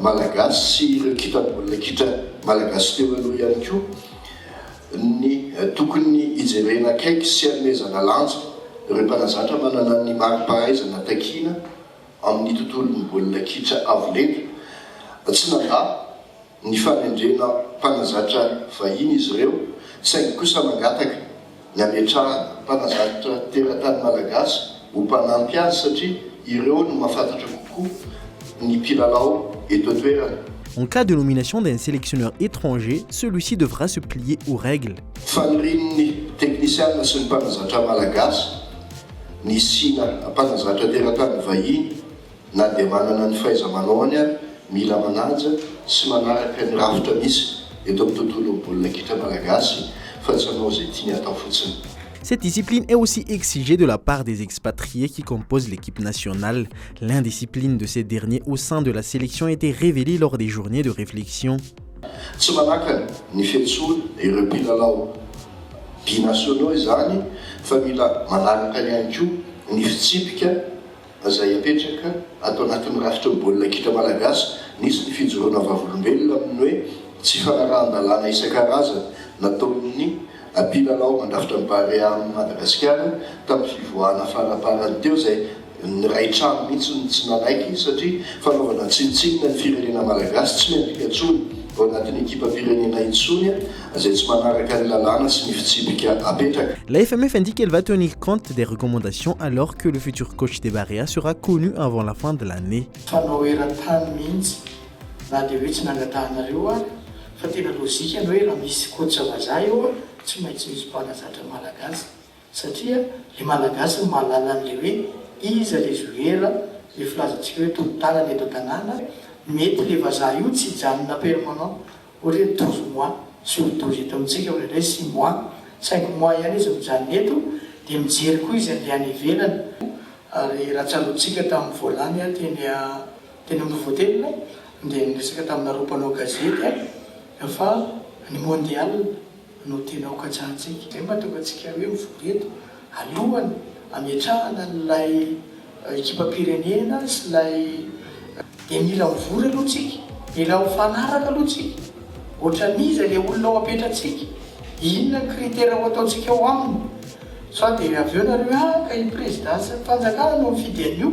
Malagasy sy ireo kitra baolina kitra Malagasy teo aloha ihany koa ny tokony hijerena akaiky sy hanomezana lanja ireo mpanazatra manana ny mari-pahaizana takiana amin'ny tontolon'ny baolina kitra avo lenta. Tsy nandà ny fanendrena mpanazatra vahiny izy ireo saingy kosa mangataka. ny hametrahana mpanazatra teratany malagasy ho mpanampy azy satria ireo no mahafantatra kokoa ny mpilalao eto an-toerana. En cas de nomination d'un selectionneur étranger, celui-ci devra se plier aux règles. Fanirian'ny teknisiana sy ny mpanazatra malagasy ny hisiana mpanazatra teratany vahiny Na dia manana ny fahaiza-manaony ary, mila manaja sy manaraka ny rafitra misy eto amin'ny tontolon'ny baolina kitra malagasy fa tsy hanao izay tiany atao fotsiny. Cette discipline est aussi exigée de la part des expatriés qui composent l'équipe nationale. L'indiscipline de ces derniers au sein de la sélection était révélée lors des journées de réflexion. Tsy manakana ny fiantsoana ireo mpilalao binationaux izany fa mila manaraka ihany koa ny fitsipika Izay apetraka ato anatin'ny rafitry ny baolina kitra malagasy, nisy ny fijoroana vavolombelona amin'ny hoe tsy fanarahan-dalàna isan-karazany nataon'ny mpilalao mandrafitra ny Barea amin'i Madagasikara tamin'ny fivoahana faraparany teo izay ny Ray trano mihitsy no tsy nanaiky satria fanaovana tsinontsinona ny firenena malagasy tsy miampita intsony ao anatin'ny ekipam-pirenena intsony izay tsy manaraka ny lalàna sy ny fitsipika apetraka. La FMF indique qu'elle va tenir compte des recommandations alors que le futur coach des Barea sera connu avant la fin de l'année. Fanao eran-tany mihitsy, na dia hoe tsy nangatahanareo ary, fa tena lojika ny hoe raha misy coach vazaha eo tsy maintsy misy mpanazatra malagasy, satria le malagasy no mahalala an'le hoe iza le joueur le filazantsika hoe tolo tanana eto an-tanàna, mety le vazaha io tsy hijanona permanent. Hoy re ny tozo moi, tsy ho tozo eto amintsika hoy indray si moi, saingy moi ihany izy mijanona eto, dia mijery koa izy andeha any ivelany, ary raha tsaroantsika tamin'ny voalany aho teny teny amin'ny Novotelina dia niresaka taminareo mpanao gazety aho fa ny mondial, no tena hokatsahantsika. Izay no mahatonga antsika hoe mivory eto alohan'ny hametrahana an'ilay ekipam-pirenena sy ilay dia mila mivory aloha tsika, mila mifanaraka aloha tsika, ohatran'iza ilay olona ho apetrantsika, inona ny critère ho ataontsika ao aminy, sao dia avy eo nareo ah ka i Président sy ny fanjakana no mifidy an'io.